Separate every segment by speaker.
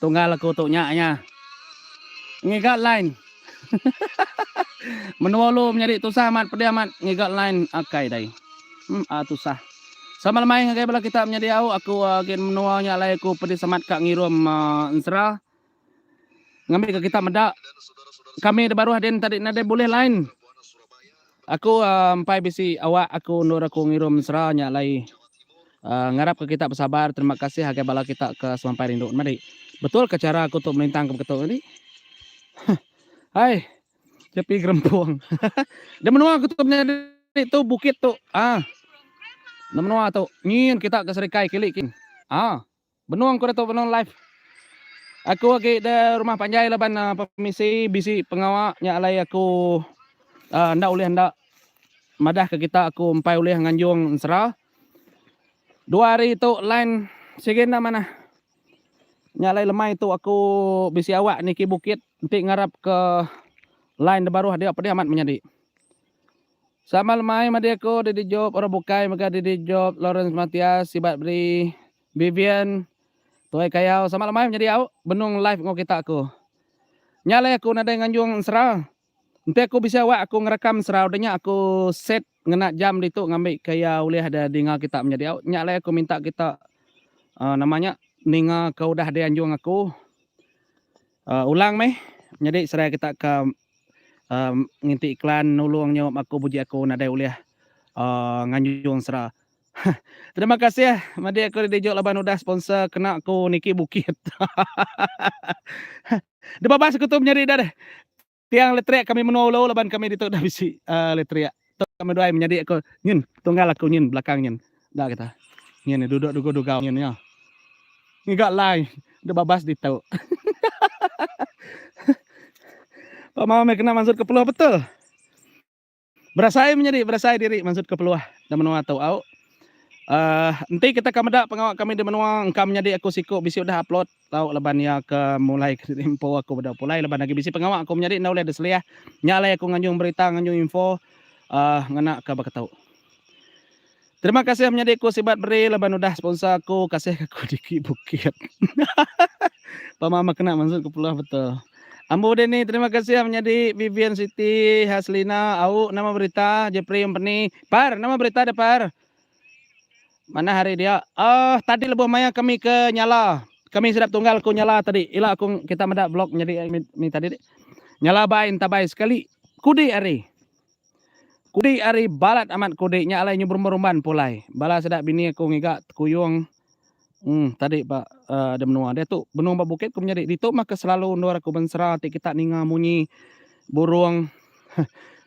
Speaker 1: Tunggal aku tu nya iya. Ngiga line. Menua ulu menyadi tusah amat pedi amat ngiga line akai dai. Hm a tusah. Sama lemai ngagai bala kita menyadi au aku gin menua nya alai aku pedi semat ka ngirum ensera. Ngambika kita meda kami da baruh din tadi nadai bulih line. Aku empai bisi awak aku endur aku ngirum mesra nya alai ngarap ka kita besabar terima kasih agai bala kita ka semampai rindu nma dik betul ka chara aku tu melintang ka beketu dik huh hai jepi gerempung da menua aku tu menyadi tu bukit tu ah da menua tu nyin kita ka serikai kili kin ah. Benung ku Datuk Benung Life. Aku agi da rumah panjai laban pemisi bisi pengawa nya alai aku enda ulih enda madah ke kita aku empai ulih nganjung ensera. Dua hari tu line sigi enda manah. Nya alai lemai tu aku bisi awak niki bukit enti ngarap ke line da baruh dia pedih amat menyadi. Sama lemai madi aku Didi Job orang bukai mega Didi Job Lawrence Matias sibat beri Vivian tuai kayau sama lemai menyadi au benung live enggau kita aku nya alai aku nadai nganjung ensera enti aku bisi awak aku ngerekam ensera udah nya aku set ngena jam ditu ngambi ke iya ulih ada dinga kita menyadi au nya alai aku minta kita um nama nya ninga ke udah dianjung aku um ulang meh nyadi serai kita ka. nginti iklan nulung nyu maku buji aku nadai ulih um nganjung sera. Hah terima kasih madi aku dijuk laban udah sponsor kena aku niki bukit. Hahaha debabas aku tu menyadi dah deh tiang letrik kami menua ulu laban kami ditu dah bisi um letrik. Tu ka meduai menyadi aku nyin tunggal aku nyin belakang nyin enda kita. Nyin nya duduk dugu dugau nyin nya. Ngiga lai duk babas ditu. Pak Mau meh kena mansut ke Peluh betul. Berasai menyadi berasai diri mansut ke Peluh da menua tu au. Uh, enti kita ka meda pengawa kami di menua engka menyadi aku siku bisi udah upload. Tau laban iya ke mulai ke impo aku bedau pulai laban agi bisi pengawa aku menyadi enda ulih diselih nya alai aku nganjung berita nganjung info uhh ngena ke baka tu. Terima kasih menyadi ku sibat beri laban udah sponsor aku kasih ke aku dikit bukit hahaha pama meh kena mansut ke peluh betul. Ambo udah ni terima kasih menyadi Vivian Siti Haslina au nama berita Jepri Empeni par nama berita da par Manah ari dia. Uh, tadi lebuh maya kami ke nyala. Kami sedap tunggal ku nyala tadi. Ila aku kita meda blog nyadi eh, ni tadi. Nyala bai entabai sekali. Kudi ari. Kudi ari balat amat kudi nya alai nyubrumban pulai. Bala sedap bini aku ngiga tekuyung. Em tadi ba uh, ada menua dia tu benung ba bukit ku menyadi ditu mah ke selalu endur aku bensera ti kita ninga munyi burung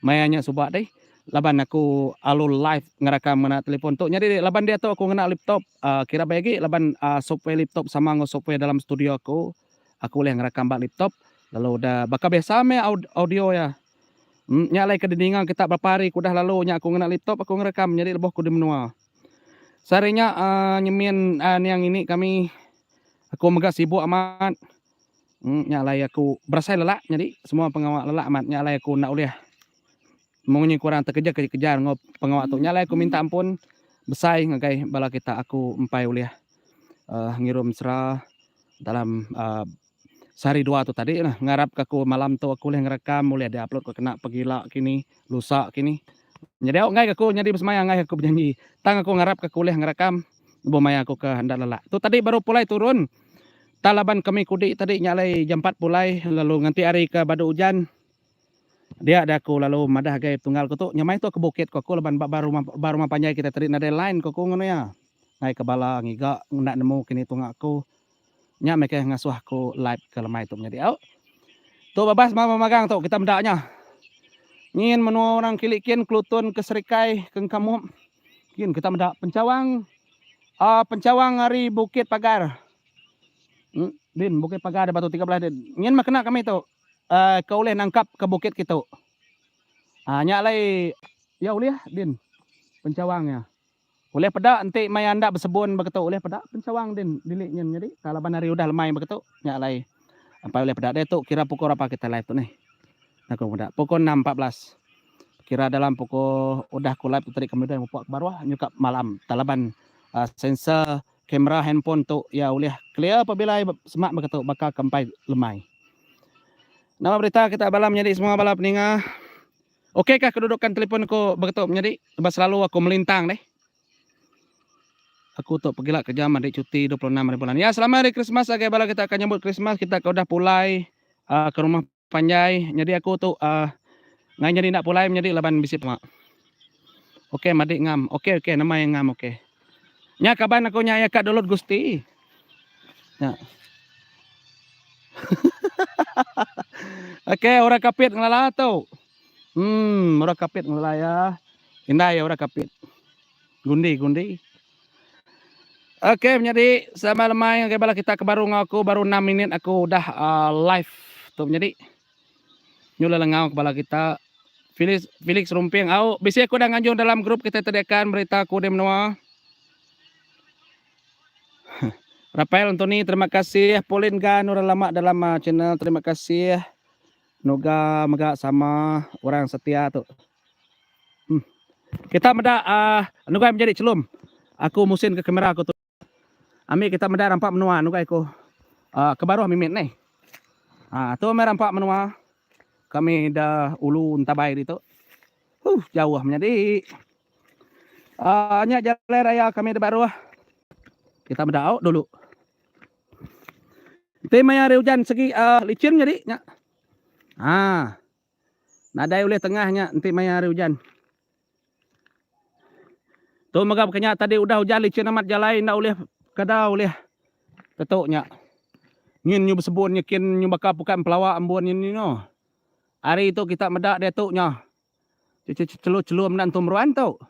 Speaker 1: maya nya suba deh laban aku alu live ngerakam ngena telefon tu nyadi laban dia tu aku ngena laptop uh, kira baik lagi laban uh, software laptop sama ngau software dalam studio aku aku boleh ngerakam ba laptop lalu dah baka biasa meh audio ya hmm, nya lai ke dininga kita berapa hari ku dah lalu nya aku ngena laptop aku ngerakam nyadi lebuh ku di menua Sehari nya uh, nyemin uh, niang ini kami aku mega sibuk amat. Hmm, nya alai aku berasai lelak jadi semua pengawa lelak amat nya alai aku ndak ulih mung nyi kurang terkejar kejar ngau pengawa tu. Nya alai aku minta ampun besai ngagai bala kita aku empai ulih uh, ngirum sera dalam uh, sehari dua tu tadi lah ngarap ka aku malam tu aku ulih ngerekam ulih di upload ko kena pegila kini lusa kini nyadi au enggai ka aku nyadi besemaya enggai aku bejanji tang aku ngarap ka aku ulih ngerekam lebuh maya aku ke enda lelak tu tadi baru pulai turun tang laban kami kudi tadi nya alai jam empat pulai lalu nganti hari ke badu ujan dia da aku lalu madah agai tunggal ku tu nyamai tu ke bukit ko aku laban ba ba rumah ba rumah panjai kita tadi nadai line ko aku ngau nuya ngai ke bala ngiga enda nemu kini tunga aku. Nya meh ke ngasuh aku live ke lemai tu menyadi au. Tu babas mama magang tu kita meda nya. Nyin menua orang kili kin kelutun ke serikai ke engka mup kin kita meda pencawang uh, pencawang ari Bukit Pagar. Hmm, din Bukit Pagar di Batu 13 din. Nyin mah kena kami tu uh, ke ulih nangkap ke bukit kitu. Ah uh, nya alai ya ulih din pencawang nya. Ulih peda enti mai anda besebun ba ketu ulih peda pencawang din dili nyin nyadi ka laban hari udah lemai ba ketu nya alai apai ulih peda deh tu kira pukul berapa kita live tu neh enda ku meda pukul enam empat belas kira dalam pukul udah ku live tu tadi kami udah mupuk kebaruh nyukap malam ka laban sensor kamera handphone tu iya ulih clear pabila iya semak ba ketu baka ke empai lemai. Nama berita kita bala menyadi semua bala peninga. Okay kah kedudukan telefon aku begitu menyadi sebab selalu aku melintang deh. Aku tu pegila kerja mandi cuti 26 hari bulan. Ya, selama hari Christmas agai bala kita akan nyambut Christmas, kita ke udah pulai uh, ke rumah panjai. Jadi aku tu uh, ngai jadi nak pulai menyadi laban bisi pema. Okey, madi ngam. Okey, okey, nama yang ngam okey. Nya kaban aku nya iya ka Dolot Gusti. Nya. Okey, orang kapit ngelala tu. Hmm, orang kapit ngelala ya. Indai ya orang kapit. Gundi, gundi. Okey, menyadi sama lemai ngagai bala kita ke baru ngau aku baru 6 minit aku udah uh, live tu menyadi. Nyulah lengau kepala kita Felix Felix Rumping au bisi aku dah nganjung dalam grup kita tediakan berita aku di menua. Rafael Anthony terima kasih Pauline Gan orang lama dalam uh, channel terima kasih Noga mega sama orang setia tu. Hmm. Kita meda uh, ah, Noga menjadi celum. Aku musin ke kamera aku tu. Ambi kita meda rampa menua nugai ku ke baruh mimit neh. Haa tu meh rampa menua kami da ulu entabai ditu. Huh jauh menyadi. Haa nya jalai raya kami da baruh. Kita meda au dulu. Enti maya hari ujan segi licin nyadi nya. Haa. Nadai ulih tengah nya enti maya hari ujan. Tu mega baka nya tadi udah ujan licin amat jalai enda ulih kada ulih tetu nya. Nyin nyu besebun nyekin nyu baka pukat empelawa embun nyin nyu no. Hari tu kita meda diatu nya. Chelum enda entu meruan tu.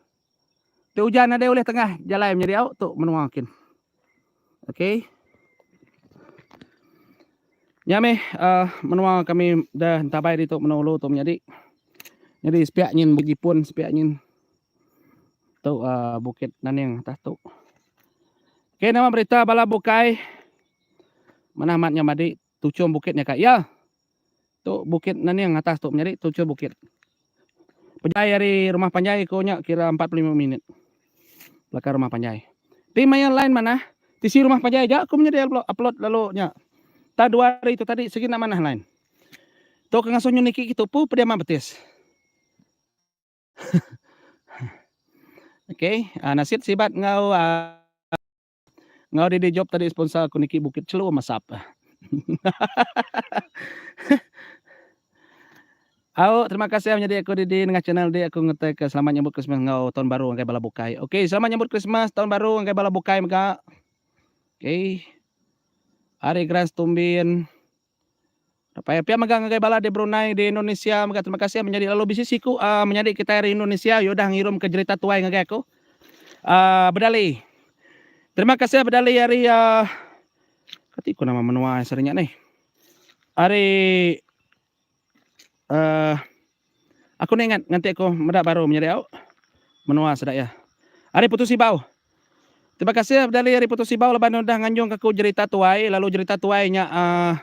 Speaker 1: Ti ujan nadai ulih tengah jalai menyadi au tu menua kin. Okey. Nya meh uh, menua kami dah entabai ditu menua ulu tu menyadi. Jadi sepiak nyin bejipun sepiak nyin tu uh, Bukit Naning atas tu. Okey nama berita bala bukai. Manah mat nyamadi Tuchung bukit nya ka iya. Tu bukit naning atas tu menyadi tuchung bukit. Pejai ari rumah panjai ko nya kira empat puluh lima minit belakang rumah panjai. Ti maya line manah tisi rumah panjai aja ko menyadi upload lalu nya. Tang dua hari tu tadi sigi enda manah line. Tu ke ngasuh nyu niki ke tupu pediam mah betis. Okey, nasit sibat enggau. Enggau didi job tadi sponsor aku niki bukit chelum masap. Au terima kasih au nyadi aku didi nengah channel dik aku ngetai ke selamat nyambut Christmas enggau tahun baru enggai bala bukai. Okey selamat nyambut Christmas tahun baru enggai bala bukai mega. Okey. Ari Grand Stumbin. Pia pia mega ngagai bala di Brunei, di Indonesia mega terima kasih menyadi lalu bisi siku uh, menyadi kitai ari Indonesia udah ngirumka jerita tuai ngagai aku. Uh, bedali. Terima kasih bedali ari uh, kati ku nama menua sering ni. Ari Uh, aku ni ingat nganti aku meda baru menyadi au menua sedaya. Ari Putus Ibau. Terima kasih Abdali ari Putus Ibau laban udah nganjung aku jerita tuai lalu jerita tuai nya uh,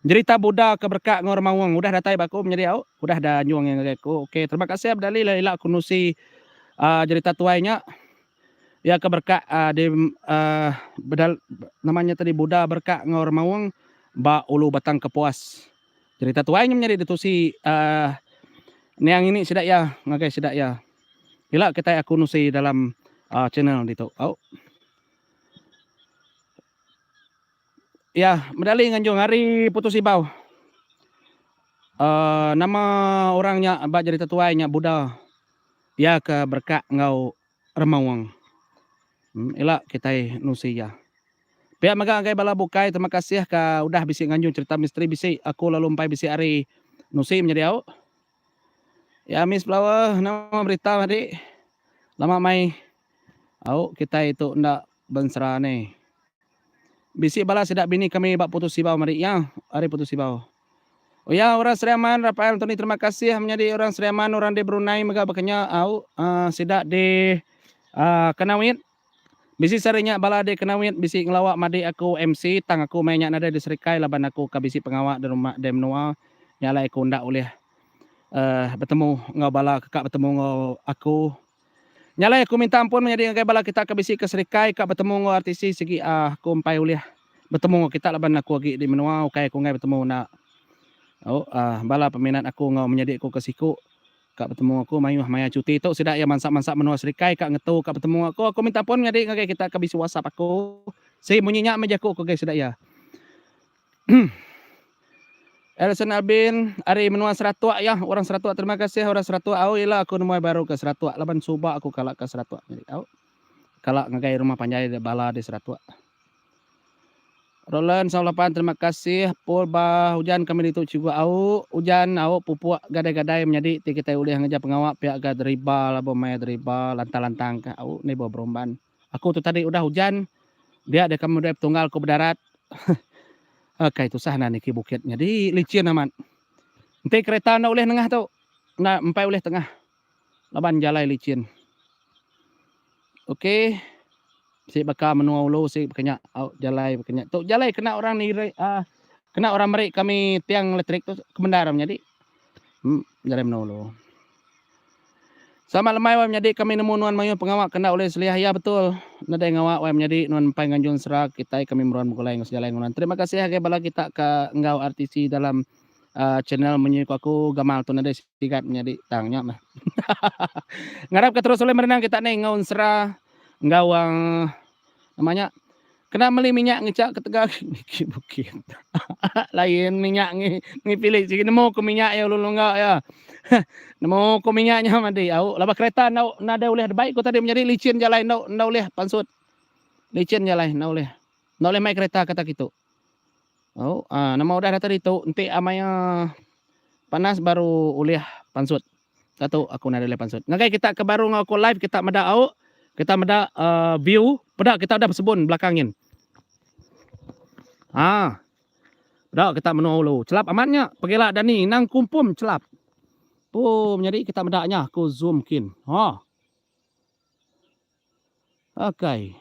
Speaker 1: jerita Buddha ke berka ngau remaung udah datai ba aku menyadi au udah da anjung ngagai aku. Okey terima kasih Abdali ila aku nusi uh, jerita tuai nya. Iya ke berkat di nama nya tadi Buddha berkat enggau orang maung ba Ulu Batang Kepuas. Cerita tuai nya menyadi ditusi nia ngini sida iya ngagai sida iya. Ila kitai aku nusi dalam channel ditu. Au. Iya meda ali nganjung ari Putus Ibau. Nama orang nya ba cerita tuai nya Buddha. Pia ke berekat enggau remaung. Ila kitai nusi iya. Pia mega ngagai bala bukai terima kasih ka udah bisi nganjung cherita misteri bisi aku lalu empai bisi hari nusi menyadi au. Ya miss flower nama berita madi lama mai Au kitai tu enda bensera ni. Bisi bala sida bini kami ba Putus Sibau mari iya ari Putus Sibau. Uya orang Seriaman Rafael Antoni terima kasih menyadi orang Seriaman orang di Brunei mega bakanya au uh, sida di uh, Kanawit Bisi sehari nya bala di Kanawit bisi ngelawa madi aku MC tang aku meh nya nadai di Serikai laban aku ka bisi pengawa di rumah di menua nya alai aku enda ulih uh, betemu enggau bala keka betemu enggau aku. Nya alai aku minta ampun menyadi ngagai bala kita ke bisi ke serikai ka betemu enggau RTC sigi ah aku empai ulih betemu enggau kita laban aku agi di menua ukai aku enggai betemu enda au ah bala peminat aku enggau menyadi aku ke siku ka betemu enggau aku mayuh maya cuti tu sida iya mansa-mansa menua serikai ka ngetu ka betemu enggau aku aku minta ampun menyadi ngagai kita ke bisi WhatsApp aku si munyi nya meh jaku aku ngagai sida iya. Alison Albin ari menua Seratok iya. Orang Seratok terima kasih orang Seratok au ila aku nemuai baru ke Seratok laban suba aku kala ke Seratok nyadi au. Kala ngagai rumah panjai da bala di Seratok. Roland Saw Lapan terima kasih Paul ba ujan kami ditu cikgu au ujan au pupuk gadai-gadai menyadi ti kitai ulih ngereja pengawa pia ga deriba labu mai deriba lantang-lantang ka au ni ba Berumban. Aku tu tadi udah ujan dia deka meda betunggal ku bedarat. Akai tusah enda niki bukit nyadi licin amat. Enti kereta enda ulih nengah tu enda empai ulih tengah laban jalai licin. Okey si baka menua ulu si baka nya au jalai baka nya tu jalai kena orang niri aaa kena orang meri kami tiang elektrik tu kemendar menyadi jalai menua ulu. Selamat lemai wai menyadi kami nemu nuan mayuh pengawa ke enda ulih seliah iya betul nadai ngawa wai menyadi nuan empai nganjung sera kitai kami meruan begulai enggau sejalai enggau nuan terima kasih agai bala kita ka enggau RTC dalam Uh channel menyui ku aku gamal tu nadai sigat menyadi tang nya meh ngarap ka terus ulih merenang kita ni enggau ensera enggau uh nama nya. Kena meli minyak ngecha ketegal ke niki bukit. Lain minyak ngi ngi pilih sigi nemu ke minyak iya ulun longga iya. nemu ke minyak nya madi au laban kereta enda nadai ulih debai ku tadi menyadi licin jalai enda enda ulih pansut. Licin jalai enda ulih. Enda ulih mai kereta kata kitu. Au a nama udah data ditu enti a maya panas baru ulih pansut. Satu aku nadai leh pansut. Ngagai kita ke baru enggau aku live kita meda au, kita meda uh, view, peda kita udah besebun belakang nyin. Ha. Peda kita menua ulu. Celap amat nya. Pegila Dani nang kumpum celap. Pum nyadi kita meda nya aku zoom kin. Ha. Okey.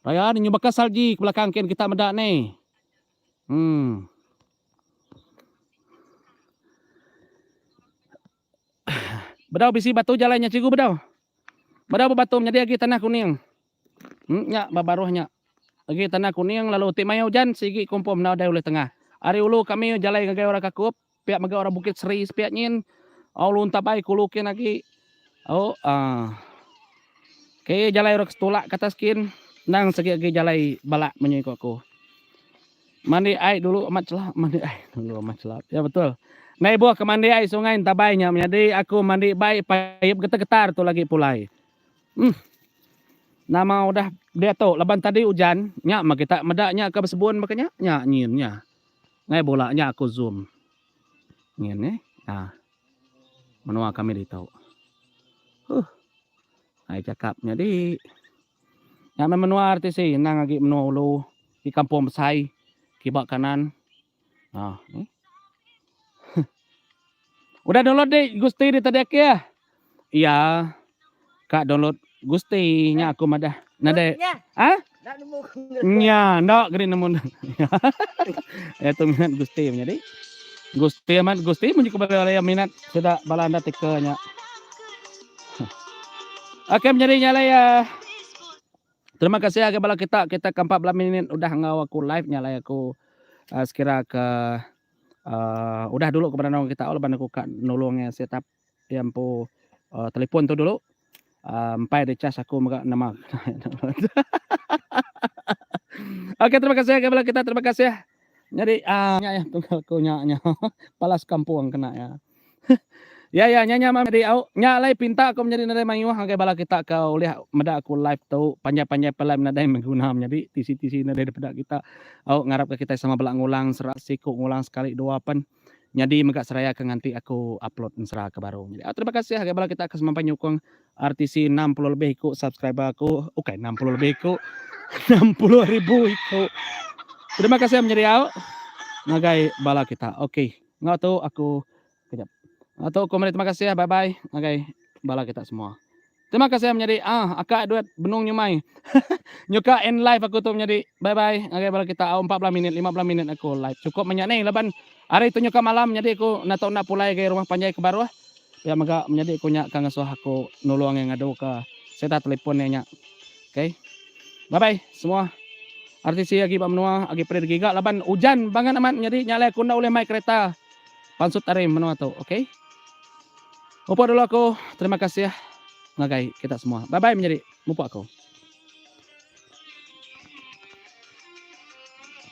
Speaker 1: Raya ni nyubaka salji ke belakang kin kita meda ni. Bedau bisi batu jalai nya cikgu bedau. Bedau bebatu menyadi agi tanah kuning. Em nya ba baruh nya agi tanah kuning lalu ti maya ujan sigi kompom enggau dai ulih tengah. Ari ulu kami jalai ngagai orang kakup. Pia mega orang bukit seri sepia nyin. Oh lunta bai kulu kin agi. Oh ah. Okey jalai orang setulak ke atas kin. Nang segi agi jalai balak menyui ko aku. Mandi ai dulu amat celap, mandi ai dulu amat celap. Ya betul. Nai buh ke mandi ai sungai entabai nya menyadi aku mandi bai paip getar-getar tu lagi pulai. Hmm. Nama udah diatu laban tadi ujan, nya mah kita meda nya ke besebun baka nya, nya nyin nya. Ngai bula nya aku zoom. Nyin neh. Ha. Menua kami ditu. Huh. Ai cakap nyadi. Nya meh menua RTC endang agi menua ulu. Di kampung besai. Kiba kanan. Ha. Ni. Udah download dik Gusti di tadi aki ah. Iya. Ka download Gusti nya aku madah. Nadai. Ha? Dak nemu. Nya, ndak geri nemu. ya tu minat Gusti punya dik. Gusti amat Gusti munyi kepada orang minat sudah bala anda tika nya. Okey menjadi nya lah ya. Terima kasih agak bala kita kita kampak bela minit udah ngau aku live nya lah aku uh, sekira ke Uh, udah dulu kepada nong kita leban aku ka nulung eh set up dia empu uh, telefon tu dulu. Uh, empai ada cas aku mega nama. Okey terima kasih kepada kita terima kasih. Jadi ah uh, nya ya tunggal aku nya nya. Palas kampung kena ya. Ya ya nya nya meh Medi au. Nya alai pinta aku menyadi nadai mayuh ngagai bala kita ke ulih meda aku live tu panjai panjai pe alai nadai meh guna menyadi tisi tisi nadai dipeda kita au ngarap ke kitai sama bela ngulang sera siku ngulang sekali dua pen nyadi mega seraya ke nganti aku upload ensera ke baru nyadi au terima kasih ngagai bala kita ke semampai nyukung RTC enam puluh lebih iku subscriber aku ukai enam puluh lebih iku enam puluh ribu iku terima kasih menyadi au ngagai bala kita okey. Enggau tu aku kejap. Enggau tu aku meri terima kasih bye bye ngagai bala kita semua. Terima kasih menyadi ah akak duit benung nyumai. Nyuka end live aku tu menyadi bye bye ngagai bala kita au empat belas minit lima belas minit aku live cukup menya ni laban hari tu nyuka malam menyadi aku enda tau enda pulai agi rumah panjai ke baruh pia mega menyadi aku nya ka ngesuh aku nulung iya ngadu ka sereta telefon iya nya. Ok. Bye bye semua. RTC agi ba menua agi perit agi ga laban ujan bangat amat nyadi nya alai aku enda ulih mai kereta pansut ari menua tu. Ok. Mupuk dulu aku. Terima kasih ngagai kita semua. Bye bye menyadi. Mupuk aku.